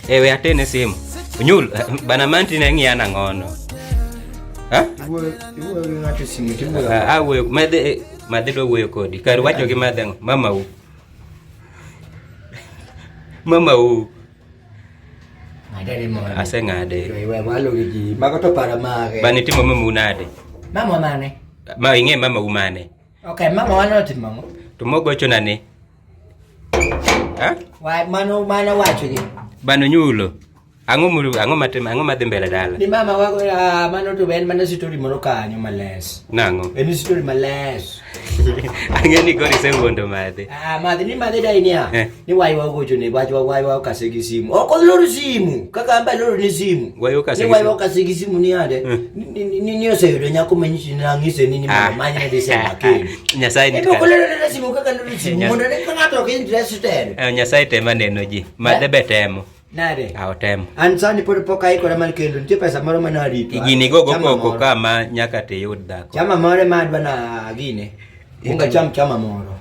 Ewe atene simu. Unyul bana manti na ngi ana ngono. Ha? Iwe iwe ngati simu tibu. Ah, we mede eh, mede do we kodi. Kar wacho gi mede mama u. Mama u. Madare mo. Ase ngade. Iwe walo gi mago to para mage. Bani timo mama unade. Mama mane? Ma inge mama umane. Okay, mama wano timo. Tumogo chonane. Ha? Wa mano mano wacho gi. Bano nyulo. Ang'o mulu ang'o matim ang'o madhi mbele dala? Ni mama wa uh, mano to ben mano story moro kanyo males. Nango. En story males. Ang'e ni gori se wuondo madhi. Ah madhi ni madhi dai niya. Eh. Ni wai wa gocho ne wach wa wai wa kase gi simu. Oko loro simu. Kaka amba loro ni simu. Wai wa kase gi simu. Ni wai wa kase gi simu ni ade. Eh. Ni ni ni oseyudo nyako manyishi na ng'ise ni ni ah. mama manya de se makeni. Nyasaye ni kaka. Eh, Nyasaye tema neno ji. Madhe be temo. Nade? Awo temo. An sani pod pok aikora mar kendo nitie pesa moro ma narito. Igini go go koko kama nyaka te yud dhako. Chama moro ma adwa na gine. Unga cham chama moro.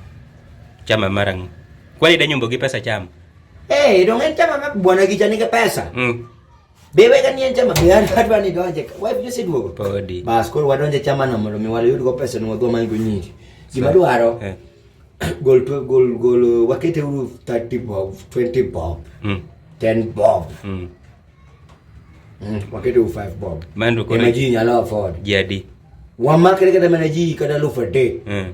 Chama marang. Kwani da nyombo gi pesa chama? Eh, dong en chama ma bwana gi jani gi pesa. Mm. Be we ka nie chama be an kadwa ni donje. Wife just duogo. Podi. Bas koro wadonje chama no mondo mi wayud go pesa no wadwa mango nyingi. Gima dwaro. Eh. Gol to gol gol uh, wakete uru 30 bob, 20 bob. Mm. 10 bob. Mm. Mm. Wakete uru 5 bob. Mando kore. Imagine nyalo afford. Jadi. Wamakre kata mana ji kada lufa de. Mm.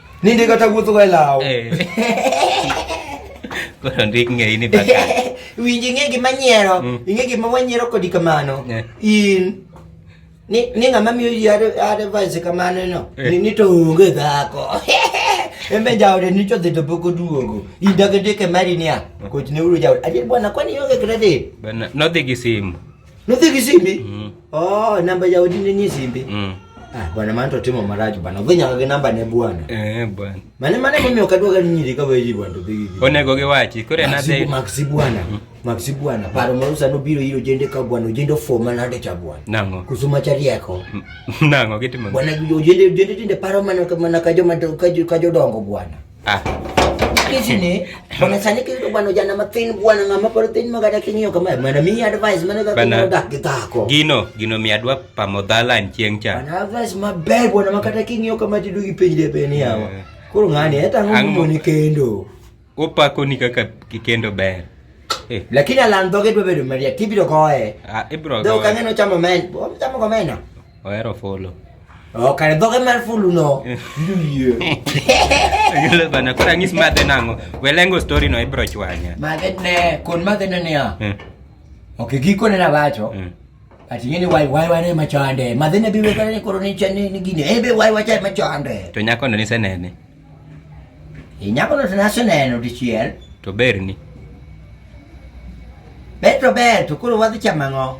Ni ndiko kata wuotho ga e law. Koro ndik ng'eyi ni baka. Winji ng'e gima nyiero, mm. ing'e gima wanyiero kodi kamano. Eh. In ni ni ng'ama miyo ji advice kamano no. Eh. Ni to onge dhako. Embe jaode ni to dhito poko duogo. Inda gede ke mari niya. Mm. Kochne uru jaode. Ajil bwana kwani yonge kredit? Bwana, nodhi gi simu. Nuthi kisimbi? Mm. Oh, namba ya udini ni simbi. Mm. Ah, bwana maana tutimo maraju bana. Venya kage namba ne bwana. Eh, bwana. Mane mane mimi ukadwa gani nyiri ka weji bwana to bigi. One goge wachi, kore na de. Maxi bwana. Mm. Maxi bwana. Paro marusa no biro hilo jende ka bwana, ujende forma na de cha bwana. Nango. Kusuma chari yako. Mm. Nango kitu mwana. Bwana ujende ujende tinde paro mana mana kajo kajo kajo dongo bwana. Ah. Kizi ne, bana sani kizi to bana jana matin buana ngama paro tin magada kinyo kama mana mi advice mana ka kinyo dak kitako. Gino, gino mi adwa pamodhala nchieng cha. Bana advice maber buana makata kinyo kama tidu gipinjde peni yawa. Eh. Koro ngani eta ngumo ni kendo. Opako ni kaka kikendo ber. Eh. Lakini alandhoge dwe bedo maria tibiro goye. Ah, ibro goye. Dok ang'e nochamo men. Ochamo komena. Ohero fulu. Ok, oh, dhoge mar fulu no. Gelo bana kora ngis madhe nango. Welengo story no ibro chwanya. Madhe ne kon madhe ne ya. Eh. Ok, giko ne na bacho. Eh. Ati ngene wai wai wane machande. Madhe ne biwe kare koro ni chane ni gine. Ebe wai wacha machande. To nyako no ni senene. E nyako no tena senene dichiel. To berni. Beto beto koro wadhi chamango.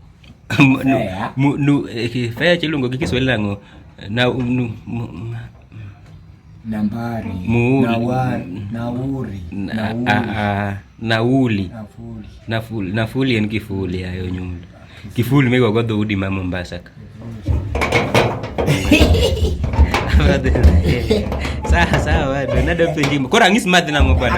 Fea eh, iluongo gi Kiswahili nang'o? Na nu nambari nauri nauli nafuli nafuli en kifuli ayo nyundo kifuli migo go dhoudi ma Mombasa ka sawa sawa bado nado penjimo kora ng'is madhi nang'o bwana